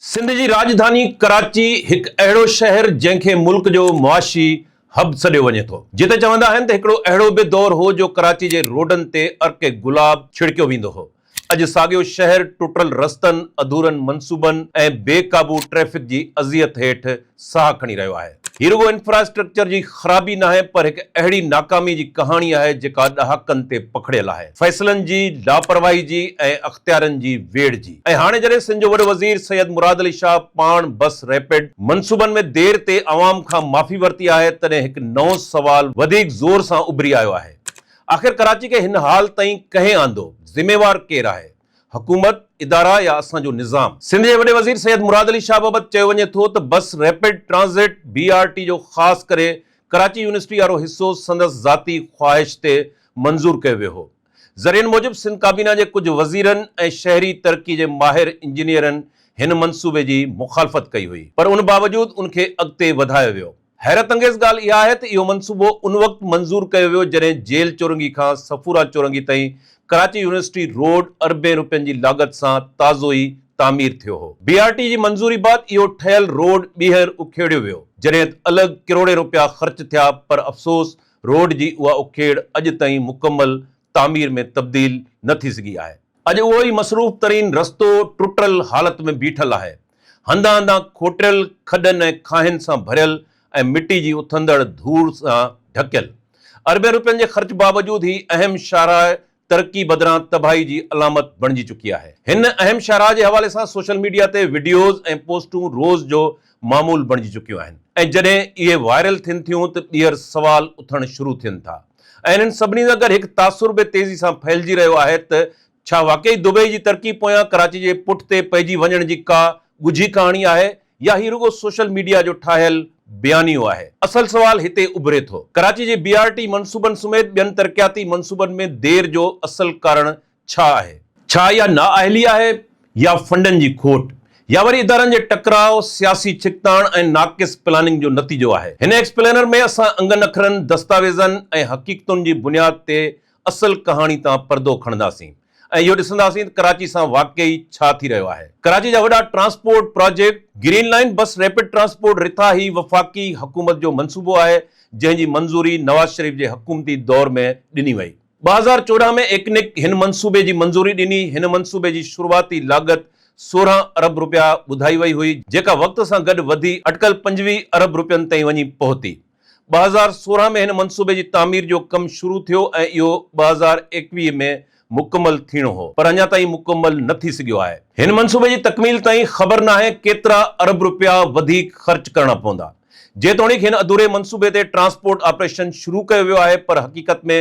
سنڌ جي راڄڌاني ڪراچي هڪ اهڙو شهر جنهن کي ملڪ جو معاشي هب سڏيو وڃي ٿو جتي چوندا آهن ته هڪڙو اهڙو به دور هو جو ڪراچي جي روڊن تي عرق گلاب ڇڙڪيو ويندو هو اڄ ساڳيو شهر ٽٽل رستن اڌورن منصوبن ۽ بي قابو ٽريفڪ جي اذيت هيٺ ساهه کڻي رهيو آهي. هي رڳو انفراسٽرڪچر جي خرابي ناهي پر هڪ اهڙي ناڪامي جي ڪهاڻي آهي جيڪا ڏهاڪن تي پکڙيل آهي، فيصلن جي لاپرواهي جي ۽ اختيارن جي ويڙهه جي ۽ هاڻي جڏهن سنڌ جو وڏو وزير سيد مراد علي شاهه پاڻ بس ريپڊ منصوبن ۾ دير تي عوام کان معافي ورتي آهي تڏهن هڪ نئون سوال وڌيڪ زور سان اڀري آيو آهي آخر ڪراچي کي هن حال تائين ڪنهن آندو؟ ذميوار ڪير آهي؟ حڪومت، ادارا يا اسان جو نظام؟ سنڌ جي وڏي وزير سيد مراد علي شاهه بابت چيو وڃي ٿو ته bus rapid transit, B R T, جو خاص ڪري ڪراچي يونيورسٽي وارو حصو سندس ذاتي خواهش تي منظور ڪيو ويو هو. ذريعن موجب سنڌ ڪابينا جي ڪجهه وزيرن ۽ شهري ترقي جي ماهر انجنيئرن هن منصوبي جي مخالفت ڪئي هئي. پر ان باوجود ان کي اڳتي وڌايو ويو. حيرت انگيز ڳالهه اها آهي ته اهو منصوبو ان وقت منظور ڪيو ويو جڏهن جيل چورنگي کان صفورا چورنگي تائين ڪراچي يونيورسٽي روڊ اربين روپين جي لاڳت سان تازو ئي تعمير ٿيو هو. بي آر ٽي جي منظوري بعد اهو ٺهيل روڊ ٻيهر اکيڙيو ويو جڏهن ته الڳ ڪروڙين روپيا خرچ ٿيا پر افسوس روڊ جي اها اکيڙ اڄ تائين مڪمل تعمير ۾ تبديل نه ٿي سگهي آهي. اڄ اهو ئي مصروف ترين رستو ٽٽل حالت ۾ بيٺل آهي. هنڌان هنڌان کوٽيل کڏن ۽ کاهين سان ڀريل ۽ مٽي جي اٿندڙ ڌوڙ سان ڍڪيل. اربين روپين جي خرچ باوجود هي اهم شاهراهه ترقي بدران تباهي جي علامت بڻجي چڪي آهي. هن اهم شاهراهه جي حوالي سان سوشل ميڊيا تي وڊيوز ۽ پوسٽون روز جو معمول بڻجي چڪيون آهن ۽ جڏهن اهي وائرل ٿين ٿيون ته ٻيهر سوال اٿڻ شروع ٿين ٿا ۽ انهن سڀني سان گڏ هڪ تاثر به تيزي سان ڦهلجي رهيو آهي ته ڇا واقعي دبئي جي ترقي پويان ڪراچي جي پٺتي پئجي وڃڻ جي ڪا ڳجهي ڪهاڻي آهي يا هي رڳو سوشل ميڊيا جو ٺاهيل بيانيو آهي؟ اصل سوال هتي اڀري ٿو. ڪراچي جي بي آر ٽي منصوبن سميت ٻين ترقياتي منصوبن ۾ دير جو اصل ڪارڻ ڇا آهي؟ ڇا اها نااهلي آهي يا فنڊن جي کوٽ يا وري ادارن جي ٽڪراء، سياسي ڇڪتاڻ ۽ ناقص پلاننگ جو نتيجو آهي؟ هن ايڪسپلينر ۾ اسان انگن اکرن، دستاويزن ۽ حقيقتن جي بنياد تي اصل ڪهاڻي تان پردو کڻنداسين ۽ اهو ڏسنداسين ته ڪراچي سان واقعي ڇا ٿي رهيو آهي. ڪراچي جا وڏا transport project, green line bus rapid transport رٿا هي وفاقي حڪومت جو منصوبو آهي جنهن جي منظوري نواز شريف جي حڪومتي دور ۾ ڏني وئي. ٻه هزار چوڏهن ۾ ايڪنڪ هن منصوبي جي منظوري ڏني، هن منصوبي جي شروعاتي لاڳت سورهن ارب رپيا ٻڌائي وئي هئي جيڪا وقت سان گڏ وڌي اٽڪل پنجويهه ارب رپين تائين وڃي پهتي. ٻه هزار سورهن ۾ هن منصوبي جي تعمير جو ڪم شروع ٿيو ۽ اهو ٻه هزار ايڪويهه ۾ مڪمل ٿيڻو هو پر اڃا تائين مڪمل نه ٿي سگهيو آهي. هن منصوبي جي تڪميل تائين خبر ناهي ڪيترا ارب رپيا وڌيڪ خرچ ڪرڻا پوندا. جيتوڻيڪ هن اڌوري منصوبي تي ٽرانسپورٽ آپريشن شروع ڪيو ويو آهي پر حقيقت ۾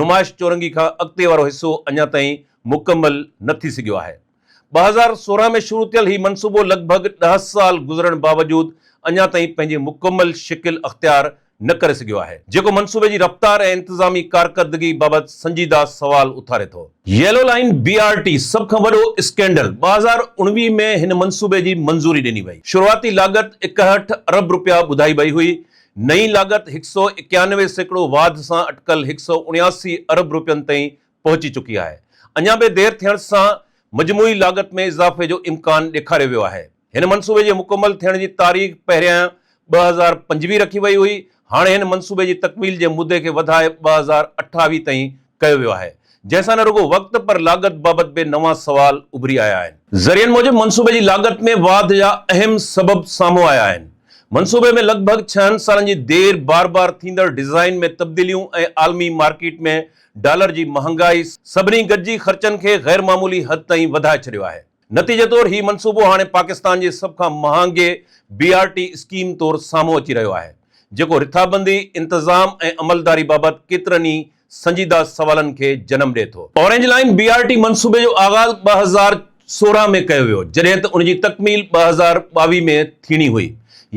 نمائش چورنگي کان اڳتي وارو حصو اڃا تائين مڪمل نه ٿي سگهيو آهي. ٻه هزار سورهن ۾ شروع ٿيل هي منصوبو لڳ ڀڳ ڏهه سال گذرڻ باوجود اڃا تائين پنهنجي مڪمل شڪل اختيار نه ڪري سگهيو آهي، جيڪو منصوبي جي رفتار ۽ انتظامي ڪارڪردگي بابت سنجيده سوال اٿاري ٿو. Yellow line, B R T, سڀ کان وڏو اسڪينڊل، ٻه هزار اڻويهه ۾ هن منصوبي جي منظوري ڏني وئي، شروعاتي لاڳت اڪهٺ ارب رپيا ٻڌائي وئي هئي، نئين لاڳت هڪ سؤ اڪيانوي سيڪڙو واڌ سان اٽڪل هڪ سؤ اڻياسي ارب رپين تائين پهچي چڪي آهي. اڃا به دير ٿيڻ سان مجموعي لاڳت ۾ اضافي جو امڪان ڏيکاريو ويو آهي. هن منصوبي جي مڪمل ٿيڻ جي تاريخ پهريائين ٻه هزار پنجويهه رکي وئي هئي، هاڻي هن منصوبي جي تڪميل جي مدي کي وڌائي ٻه هزار اٺاويهه تائين ڪيو ويو آهي، جنهن سان نه رڳو وقت پر لاڳت بابت به نوان سوال اڀري آيا آهن. ذريعن موجب منصوبي جي لاڳت ۾ واڌ جا اهم سبب سامهون آيا آهن. منصوبي ۾ لڳ ڀڳ ڇهن سالن جي دير، بار بار ٿيندڙ ڊيزائن ۾ تبديليون ۽ عالمي مارڪيٽ ۾ ڊالر جي مهانگائي سڀني گڏجي خرچن کي غير معمولي حد تائين وڌائي ڇڏيو آهي. نتيجي طور هي منصوبو هاڻي پاڪستان جي سڀ کان مهانگي بي آر ٽي اسڪيم طور سامهون اچي رهيو آهي، جيڪو رٿابندي، انتظام ۽ عملداري بابت ڪيترن ئي سنجيده سوالن کي جنم ڏئي ٿو. Orange line B R T منصوبي جو آغاز ٻه هزار سورهن ۾ ڪيو ويو، جڏهن ته ان جي تڪميل ٻه هزار ٻاويهه ۾ ٿيڻي هئي،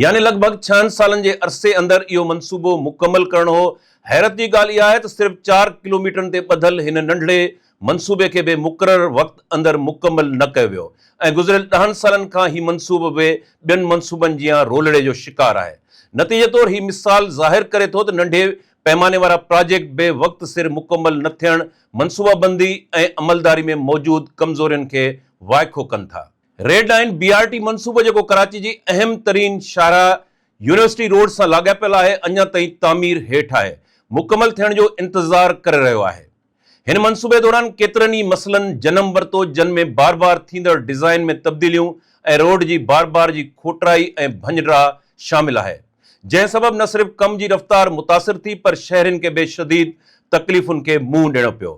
يعني لڳ ڀڳ ڇهن سالن جي عرصي اندر اهو منصوبو مڪمل ڪرڻو هو حيرت جي ڳالهه اها آهي ته صرف چار ڪلوميٽرن تي ٻڌل هن ننڍڙي منصوبي کي به مقرر وقت اندر مڪمل نه ڪيو ويو ۽ گذريل ڏهن سالن کان هي منصوبو به ٻين منصوبن جيان رولڙي جو شڪار آهي. نتيجي طور هي مثال ظاهر ڪري ٿو ته ننڍي پئماني وارا پراجيڪٽ به وقت سر مڪمل نه ٿيڻ منصوبابندي ۽ عملداري ۾ موجود ڪمزورين کي وائکو ڪن ٿا. Red line B R T منصوبو جيڪو ڪراچي جي اهم ترين شاهراهه يونيورسٽي روڊ سان لاڳاپيل آهي اڃا تائين تعمير هيٺ آهي مڪمل ٿيڻ جو انتظار ڪري رهيو آهي هن منصوبي دوران ڪيترن ئي مسئلن جنم ورتو جن ۾ بار بار ٿيندڙ ڊزائين ۾ تبديليون ۽ روڊ جي بار بار جي کوٽرائي ۽ ڀڃڊرا شامل آهي جنهن سبب نه صرف ڪم جي رفتار متاثر ٿي پر شهرين کي به شديد تڪليفن کي منهن ڏيڻو پيو.